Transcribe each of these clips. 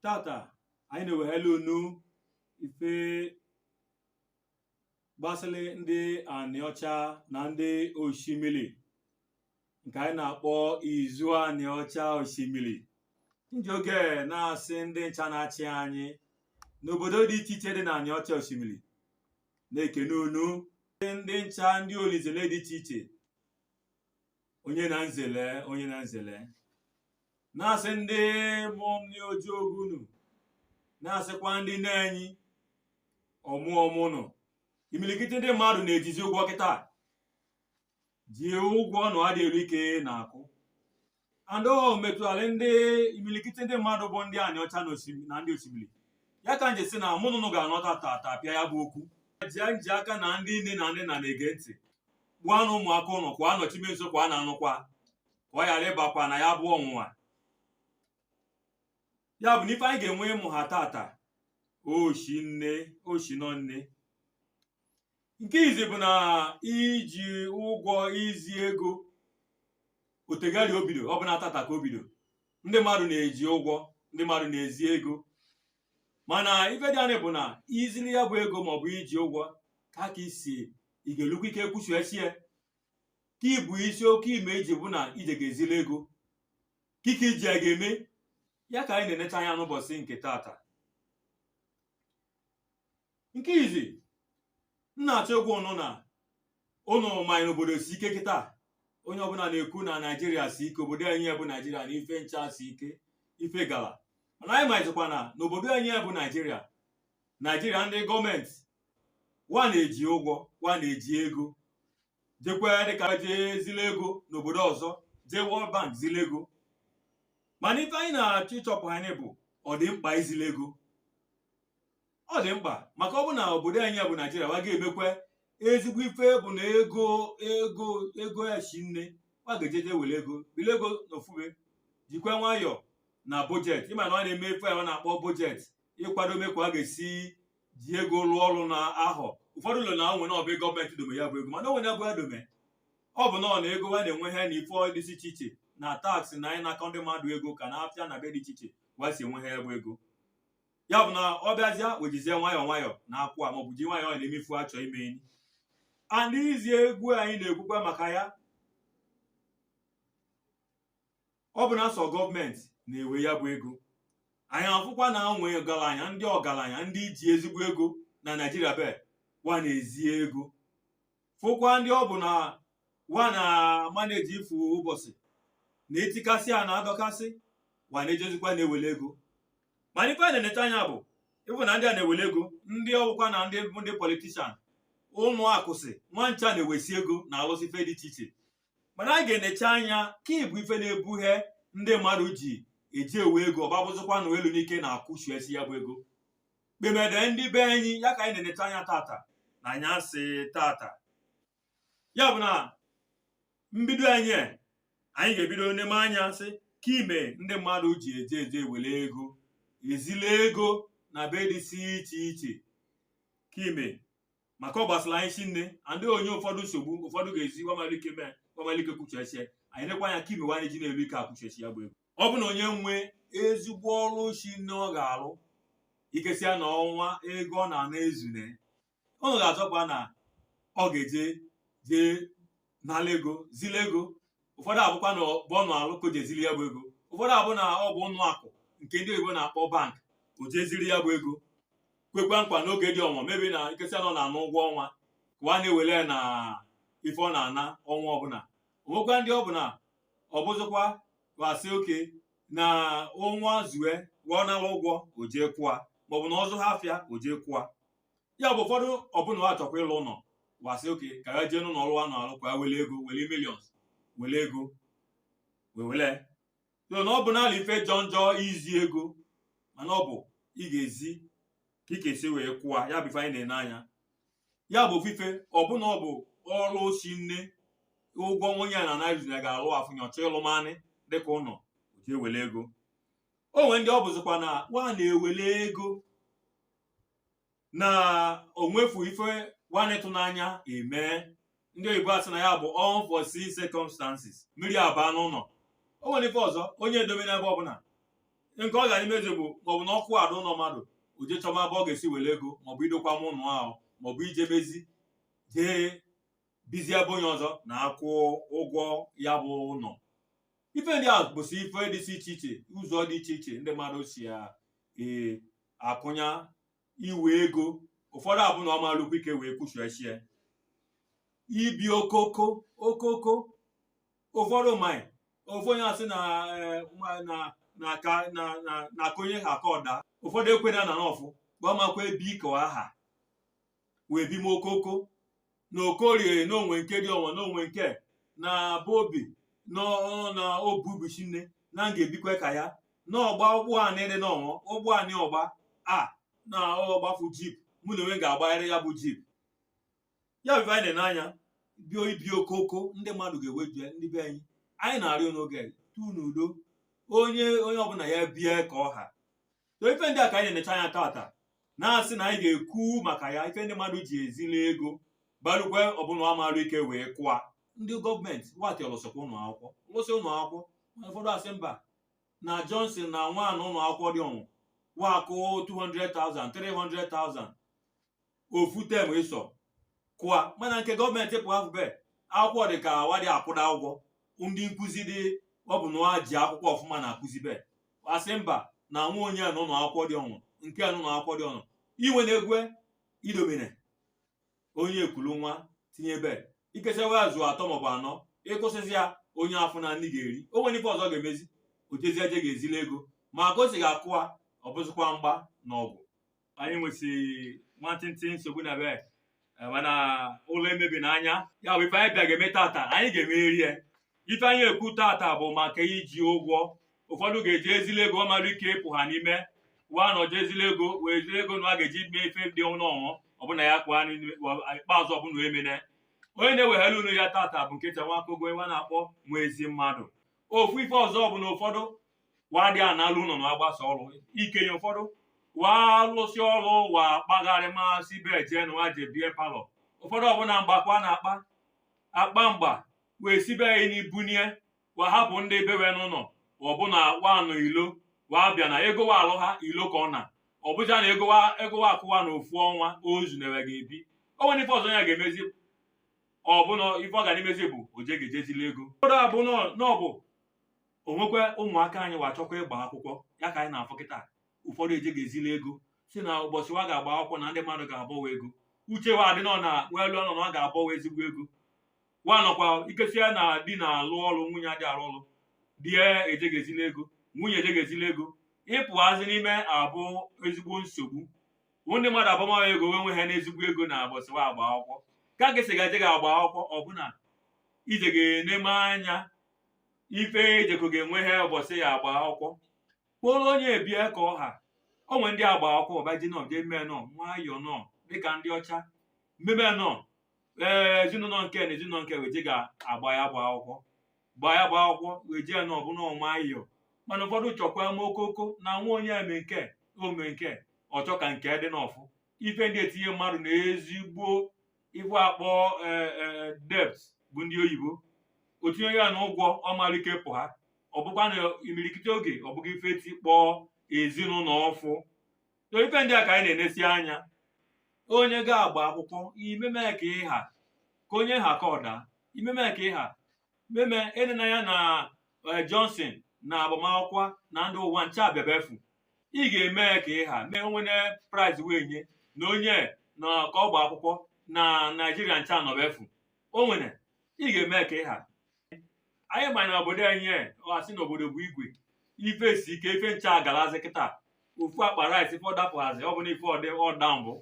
tata anyị na-ewehela unu ife gbasịrị ndị anịọcha na ndị oshimili nke anyị na-akpọ izu anịọcha oshimili nji oge na-asị ndị ncha na-achị anyị n'obodo dị iche iche dị na anịọcha oshimili na-ekene unu ndị ncha ndị olinzele dị iche iche onye na nzele onye na nzele na-asị ndị mụọ m nri oji ogu unu na-asịkwa ndị nne anyị ọmụ ọmụ nụ imilikiti ndị mmadụ na-ejizi ụgwọ kịta ji ụgwọ nụ adị elu ike na-akwụ and o metụtara ndị imilikiti ndị mmadụ bụ ndị anịọcha na oshim- na ndị oshimili ya ka nji sị na mụ na ụnụ ga-anọta tata pịa ya bụ okwu ji nji aka na ndị nne na nna na-ege ntị kpọọ nụ ụmụaka ụnụ ka wa nọchime nso ka wa na-anụkwa ka ọ ghara ịbakwa na ya bụ ọnwụnwa ya bụ na ife anyị ga-enwe ịmụha tata oshi nne oshi nọ nne nke izi bụ na iji ụgwọ izi ego o tegari o bido ọ bụna tata ka o bido ndị mmadụ na-eji ụgwọ ndị mmadụ na-ezi ego mana ife dị na ya bụ na i zili ya bụ ego maọbụ i ji ụgwọ ka ka i si ị ga-elukwa ike kwụchiesie kị bụ isi oke ime i ji bụ na i je ga-ezili ego kị ka i ji ya ga-eme ya ka anyị na-enecha anya n'ụbọchị nke tata nke izi m na-achọ ịgwa ụnụ na ụnụ malị na obodo si ike kịta onye ọbụla na-ekwu na naijiria si ike obodo anyị bụ naijiria na ife ncha si ike ife gala mana anyị mazikwa na n'obodo anyị bụ naijiria naijiria ndị government wa na-eji ụgwọ wa na-eji ego jekwa dịka jee zile ego n'obodo ọzọ jee World Bank zile ego mana ife anyị na-achọ ịchọpụha bụ ọ dị mkpa izile ego ọ dị mkpa maka ọ bụ na obodo anyị ya bụ naijiria wa ga-emekwa ezigbo ife bụ na ego ego ego eshi nne wa ga-ejeje were ego bile ego na ofu ebe jikwa nwayọọ na budget ị ma na wa na-eme ife a na-akpọ budget ịkwadome ka wa ga-esi ji ego lụọ ọrụ na ahọ ụfọdụ elo na o nwe ebe government dome ya bụ ego mana o nwene ebe wa dome ọ bụ nọọ na ego wa na-enweha na ife dị iche iche na tax na anyị na-akwụ ndị mmadụ ego ka na-afịa na ebe dị iche iche wa si enweha ya bụ ego ya bụ na ọ bịazịa wejizie nwayọọ nwayọọ na-akwụ a maọbụ ji nwayọọ na-eme ife wa chọ imeli anyị and izi ego anyị na-ekwukwa maka ya ọ bụ na sọ gọọmenti na-ewe ya bụ ego anyị afụkwa na ụmụ ọgaranya ndị ọgaranya ndị ji ezigbo ego na naijiria be wa na-ezi ego fụkwa ndị ọ bụ na wa na maneji ifu ụbọsị na etikasị a na-adọkasị wa na-ejezikwa na-ewele ego mana ife a na-eneta anya bụ ịfụ na ndị a na-ewele ego ndị ọ bụkwa na ndị ndị politishan ụnọ akụsị wa ncha na-ewesi ego na-alụsị ife dị iche iche mana anyị ga-enecha anya ka ịbụ ife na-ebughe ndị mmadụ ji eje ewe ego ọ bịa abụzikwa na elu n'ike na-akwụchiesi ya bụ ego kpemede ndị be anyị ya ka anyị na-enecha anya tata n'anyasị tata ya bụ na mbido anyị anyị ga-ebido n'ine anya sị ka ime ndị mmadụ ji eje eje ewele ego ezili ego n'ebe dịsị iche iche ka ime maka ọ gbasara anyị shinne and o nye ụfọdụ nsogbu ụfọdụ ga-ezi wa ma-elu ike mee wa ma-elu ike kwụchiesie anyị nekwa anya ka ime wa anyị ji na-elu ike akwụchiesi ya bụ ego ọ bụ na onye nwee ezigbo ọrụ shinne ọ ga-alụ ikesia na ọnwa ego ọ na-ana ezune ọ ga-achọkwa na ọ ga-eje jee nala ego zili ego ụfọdụ abụkwa na ọ bụ ụnọ ọlụ ka o je zili ya bụ ego ụfọdụ abụ na ọ bụ ụnọ akụ nke ndị oyibo na-akpọ bank o je zili ya bụ ego kwekwa nkwa n'oge dị ọnwa maybe na nke sị na ọ na-ana ụgwọ ọnwa ka wa na-ewele ya na ife ọ na-ana ọnwa ọbụla o nwekwa ndị ọ bụ na ọ bụzikwa wa sị okay na ọnwa zue ọ nala ụgwọ o jee kwụa maọbụ na ọ zụchaa afịa o jee kwụa ya bụ ụfọdụ ọ bụ na wa chọkwa ịlụ ụnọ wa sị okay ka ha jee n'ụlọ ọrụ a na-alụ ka ha wele ego wele millions wele ego wee wele so na ọ bụ n'ala ife jọ njọ izi ego mana ọ bụ ị ga-ezi ka ị ga-esi wee kwụa ya bụ ife anyị na-ene anya ya bụ ofu ife ọ bụ na ọ bụ ọrụ shinne ụgwọ nwunye ya na naijiria na ga-alụ afụ onye chọ ịlụ manị dịka ụnọ o jee wele ego o nwere ndị ọ bụzikwa na wa na-ewele ego na o nwefu ife wa na-atụ n'anya emee ndị oyibo asị na ya bụ unforeseen circumstances mmiri abaa n'ụnọ o nwere ife ọzọ onye edobe n'ebe ọbụla nke ọ gara imezi bụ maọbụ na ọkụ agbaa ụnọ mmadụ o je chọba ebe ọ ga-esi wele ego maọbụ idokwa ụnọ ahụ maọbụ ijebezi jee bizie ebe onye ọzọ na-akwụ ụgwọ ya bụ ụnọ ife ndị a bụsị ife dịsị iche iche ụzọ dị iche iche ndị mmadụ si ya ee akụnye n'iwe ego ụfọdụ abụ na ọ ma-elukwa ike wee kwụchiesie ibi okoko okoko ụfọdụ mai ofu onye asị na eh, ma- na na ka na na na ka onye ha ka ọ da ụfọdụ ekwena na n'ọfụ wa ama-ekwe ebi ka wa aha wee bi m okoko na okorie na o nwe nke dị ọnwa na o nwe nke na be o bi na ọ- na obu ubuchi nne na m ga-ebikwa ka ya na ọ gba ụgbọ anị dị n'ọnwa ụgbọ anị ọ gba a na ọ gbafu jeep mụ na onwe m ga-agbarịrị ya bụ jeep ya bụ ife anyị na-ene anya bụ ibi okoko ndị mmadụ ga-ewe bịa ndị be anyị anyị na-arịọ n'oge a, tu n'udo onye onye ọbụla ya bie ka ọ ha so ife ndị a ka anyị na-enecha anya tata na-asị na anyị ga-ekwu maka ya ife ndị mmadụ ji ezili ego gbalụkwe ọbụna amarụ ike wee kụa ndị gọọmenti wa alụsịkwa ụlọ akwụkwọ lụsị ụlọ akwụkwọ mana ụfọdụ asị mba na Johnson na nwa ya nọ ụlọ akwụkwọ dị ọnwụ wa kụ 200,000 300,000 ofu term ịsọ kụa mana nke gọọmenti pụ afụ be akwụkwọ dị ka wa adị akwụda ụgwọ ndị nkụzi dị ọbụna ji akwụkwọ ọfụma na-akụzi be asị mba na nwa onye a nọ ụlọ akwụkwọ dị ọnwụ nke a nọ ụlọ akwụkwọ dị ọnụ iwe na-egwe idomine onye ekulu nwa tinye be ikesi wa zu atọ maọbụ anọ ị kwụsịzi ya onye afọ na nni ga-eri o nwere ife ọzọ ọ ga-emezi o jezie je ga-ezili ego ma ka o si ga-akụa ọ bụzịkwa mgba na ọgụ anyị nwesị nwantịntị nsogbu na be eh, mana ụlọ emebi n'anya ya bụ ife anyị bịa ga-eme tata anyị ga-emeri ya ife anyị ekwu tata bụ maka iji ụgwọ ụfọdụ ga-eji ezili ego ọ malụ ike ịpụha n'ime wa na-eje ezili ego wee zili ego na a ga-eji mee ife dị ọnụ ọṅụ ọbụna ya kpụọ anụ n'ime- wa- ikpeazụ ọbụna emene onye na-ewehara unu ya tata bụ nkịta Nwakogo wa na-akpọ nwa ezi mmadụ ofu ife ọzọ bụ na ụfọdụ wa adị analụ ụlọ na wa gbasa ọrụ ikenye ụfọdụ wa lụsị ọrụ wa kpagharịmasịbe jee na wa je beer parlour ụfọdụ ọbụna mgbakwa na-akpa akpa mgba wee sibe ya nni bunye wa hapụ ndị be we n'ụlọ ọbụna wa nọ ilo wa bịa na ego wa alụha ilo ka ọ na ọ bụzia na ego wa ego wa akụ wa na ofu ọnwa ozu na-ewe ga-ebi o nwere ife ọzọ ya ga-emezi ka ọ bụ na ife ọ ga na-emezi bụ o je ga-eje ezili ego ụfọdụ abụ na ọ bụ o nwekwa ụmụaka anyị wa chọkwa ịgba akwụkwọ ya ka anyị na-afụ kịta ụfọdụ eje ga-ezili ego si na ụbọchị wa ga-agba akwụkwọ na ndị mmadụ ga-abọ wa ego uche wa adị nọ na we elo nọ na a ga-abọ wa ezigbo ego wa nọkwa ikesi ya na di na-alụ ọrụ nwunye adị arụ ọrụ di ya eje ga-ezili ego nwunye eje ga-ezili ego ịpụhazi n'ime abụ ezigbo nsogbu ndị mmadụ abọma wa ego wee nweha n'ezigbo ego na ụbọsị wa agba akwụkwọ ka ị ga-esi ga-eje ga-agba akwụkwọ ọbụna i je ga-eneme anya ife i jeko ga-enweha ụbọchị ya agba akwụkwọ kpọrọ onye bie ka ọ ha o nwere ndị agba akwụkwọ baji nọ jee mee nọ nwayọọ nọ dịka ndị ọcha meme nọ ee ezinụlọ nke na ezinụlọ nke wee je ga-agba ya agba akwụkwọ gbaa ya gbaa akwụkwọ wee jee na ọbụna ọma ayọ mana ụfọdụ chọkwa ma okoko na nwa onye eme nke ome nke ọ chọ ka nke dị n'ọfụ ife ndị etinye mmadụ na ezigbo ife a kpọ debt bụ ndị oyibo o tinye ya na ụgwọ ọ ma eli ike pụha ọ bụkwa na imirikiti oge ọ bụghị ife tikpọọ ezinụlọ ọfụ so ife ndị a ka anyị na-enesi anya onye ga-agba akwụkwọ i meme ka ị ha ka onye ha ka ọda i meme ka ị ha meme enena anya na eh, Johnson na agbamakwụkwọ na ndị ụwa ncha abịa ebe afụ ị ga-eme ka ị ha mee o nwene prize wee nye na onye na ka ọ gba akwụkwọ na Naijiria ncha anọ ebe afụ o nwere ị ga-eme ka ị ha anyị ma na obodo anyị e, a sị na obodo bụ igwe ife si ike ife ncha agalazi kịta ofu akpa rice ife ọ dapụhazi ọ bụ na ife ọ dị ọ da mbụ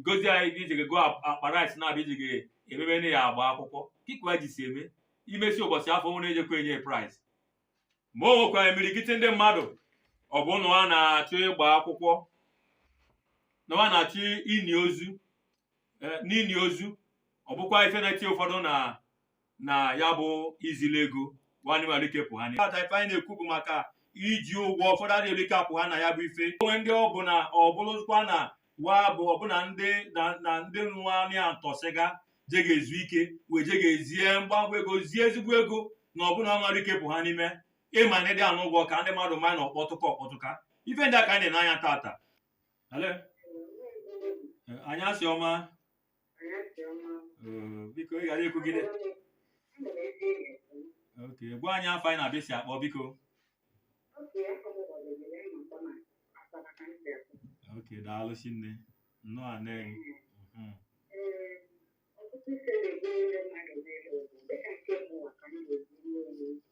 gozie anyị gị ijige goo akpa rice na-abịa ijige emebe na ya agba akwụkwọ kikwa ji si eme i mesie ụbọchị afụ o nwere ejekwa enye prize ma o nwekwa imirikiti ndị mmadụ ọ bụ na wa na-achọ ịgba akwụkwọ na wa na-achọ ini ozu eh, n'ini ozu ọ bụkwa ife na-eti ụfọdụ na na ya bụ izili ego wa ama eli ike pụha n'ime ta ife anyị na-ekwu bụ maka iji ụgwọ ụfọdụ adịghị eli ike apụha na ya bụ ife o nwe ndị ọ bụ na ọ bụrụkwa na wa bụ ọbụna ndị na na ndị nwa anị etosi ga je ga-ezu ike wee je ga-ezie mgbagwa ego zie ezigbo ego na ọbụna ọ ma eli ike pụha n'ime ịma na ịdị anụ ụgwọ ka ndị mmadụ ma na ọ kpọtụka ọ kpọtụka ife ndị a ka anyị na-ene anya tata Hello? Eh, Anyasị ọma Eh, biko ị ghara ikwu gịnị ok gwa anyị afa gị na ebe i si akpọ biko ok daalụ shinne nnọọ anị Mhm.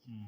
Mm.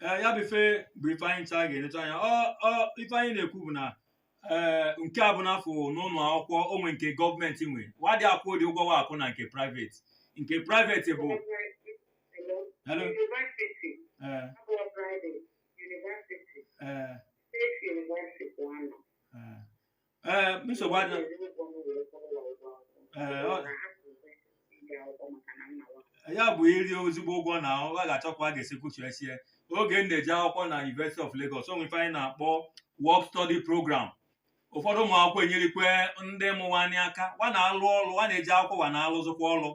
ee ya bụ ife bụ ife anyị ncha ga-enecha anya ọ ọ ife anyị na-ekwu bụ na ee nke a bụ n'afọ n'ụlọ akwụkwọ o nwe nke gọọmenti nwe wa adị akwụdị ụgwọ wa akwụ na nke private nke private bụ Hello? University, ee abụọ private, university, ee state university bụ anọ. ee ee nsogbu adị ee ọ- ya bụ iri ezigbo ụgwọ na ọ ga-achọkwa a ga-esi kwụchisie oge m na-eje akwụkwọ na University of Lagos o nwere ife anyị na-akpọ work study program ụfọdụ ụmụ akwụkwọ enyerekwa ndị mụ wa nị aka wa na-alụ ọrụ wa na-eje akwụkwọ wa na-alụzikwa ọrụ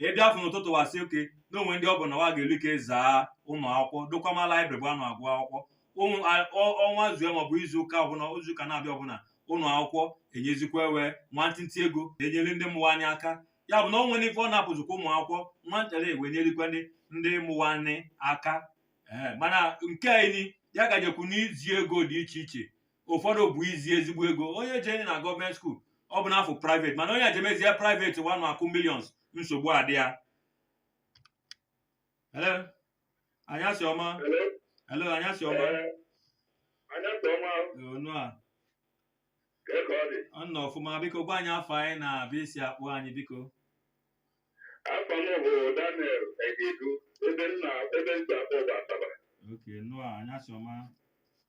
ị bịa fụ n'ụtụtụ wa sị okay na o nwe ndị ọ bụ na wa ga-eli ike zaa ụlọ akwụkwọ dokwama library ebe a nọ agụ akwụkwọ ụmụ a- ọ- ọnwa zue maọbụ izu ụka ọbụla izu ụka na-abịa ọbụla ụlọ akwụkwọ enyezikwa ewee nwantịntị ego enyere ndị mụrụ anyị aka ya bụ na o nwere ife ọ na-apụzikwa ụmụ akwụkwọ nwantara ewee nyerikwa ndị ndị mụrụ anyị aka Ee, mana nke anyị ya gajekwu n'izi ego dị iche iche ụfọdụ bụ izi ezigbo ego onye jee na gọọmenti skuul ọ bụ n'afọ private mana onye jemezie private wanụ akwụ millions nsogbu adị ya Hello? anyasị ọma Hello? hello anyasị ọma Ee, anyasị ọma nnọọ ka ebe ọ dị nnọọ ọfụma biko gwa anyị afa gị na ebe i si akpọ anyị biko afa m bụ Daniel Egedu ebe m na ebe m si akpọ bụ Asaba oke nnọọ anyasị ọma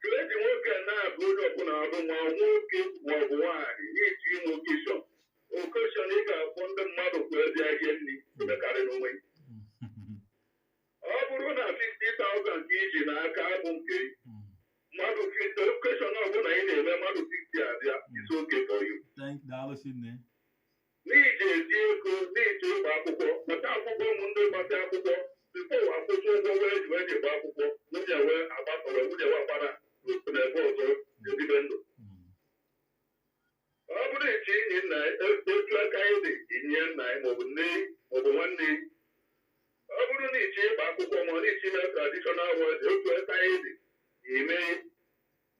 Chineke nwoke a na-abụ onye ọbụla abụ ma nwoke ma ọ bụ nwaanyị na i je ime okeshọn okeshọn ị ga-akpọ ndị mmadụ ka wa bịa rie nri emekarị n'onwe ya. ọ bụrụ na 50,000 ka i ji n'aka abụ nke mmadụ 50 okeshọn ọbụla ị na-eme mmadụ 50 abịa is okay for you. Thank daalụ Chinne. n'iji ezi ego n'iji ịgba akwụkwọ maka akwụkwọ ụmụ ndị gbasị akwụkwọ tupu wa akwụ ụgwọ wee ji wee ji gba akwụkwọ nwunye wee agbasa wee nwunye wee agbara n'otu na ebe ọzọ ebibe ndụ ọ bụrụ ị chọ ini nna gị etu aka gị dị i nie nna gị maọbụ nne maọbụ nwanne ọ bụrụ na ị chọ ịgba akwụkwọ ma ọ na ị chọ ime tradishọnal wedding etu aka gị dị i mee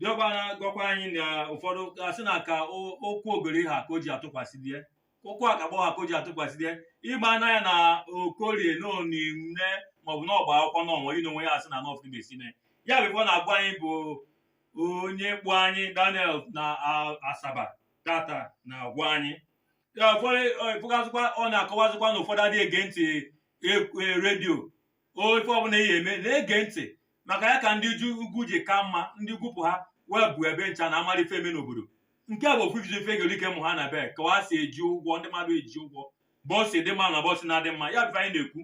diọkpa na-agwakwa anyị na ụfọdụ asị na ka o- ụkwụ ogori ha ka o ji atụkwasị di e ụkwụ agbọghọ ha ka o ji atụkwasị di e ịgba anya ya na okorie na o nie nne maọbụ na ọ gba akwụkwọ na ọnwa ino onwe ya asị na nọf ibe sine ya bụ ife ọ na-agwa anyị bụ onye kpọ anyị Daniel na a- Asaba tata na-agwa anyị Ya, ụfọdụ ịfụgazikwa ọ na-akọwazikwa na ụfọdụ adịghị ege ntị e- e- redio o ife ọbụla ihe eme na-ege ntị maka ya ka ndị ugwu ji ka mma ndị gwupụ ha wee bụ ebe ncha na amara ife eme n'obodo nke a bụ ofu iji ife gerike mụ ha na be ka wa si eji ụgwọ ndị mmadụ eji ụgwọ bọọsụ dị mma na bọọsụ na-adị mma ya bụ anyị na-ekwu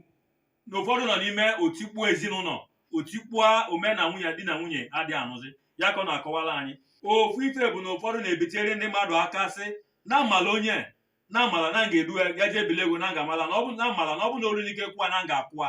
na ụfọdụ nọ n'ime otikpuo ezinụlọ otikpuo ome na nwunye di na nwunye adịghị anụzi ya ka ọ na-akọwara anyị ofu ife bụ na ụfọdụ na-ebitere ndị mmadụ aka sị na amala onye na amala na m ga-edu ya jee ebili ego na m ga-amala na ọ bụ na amala na ọ bụ na olu n'ike kwụwa na m ga-akwụwa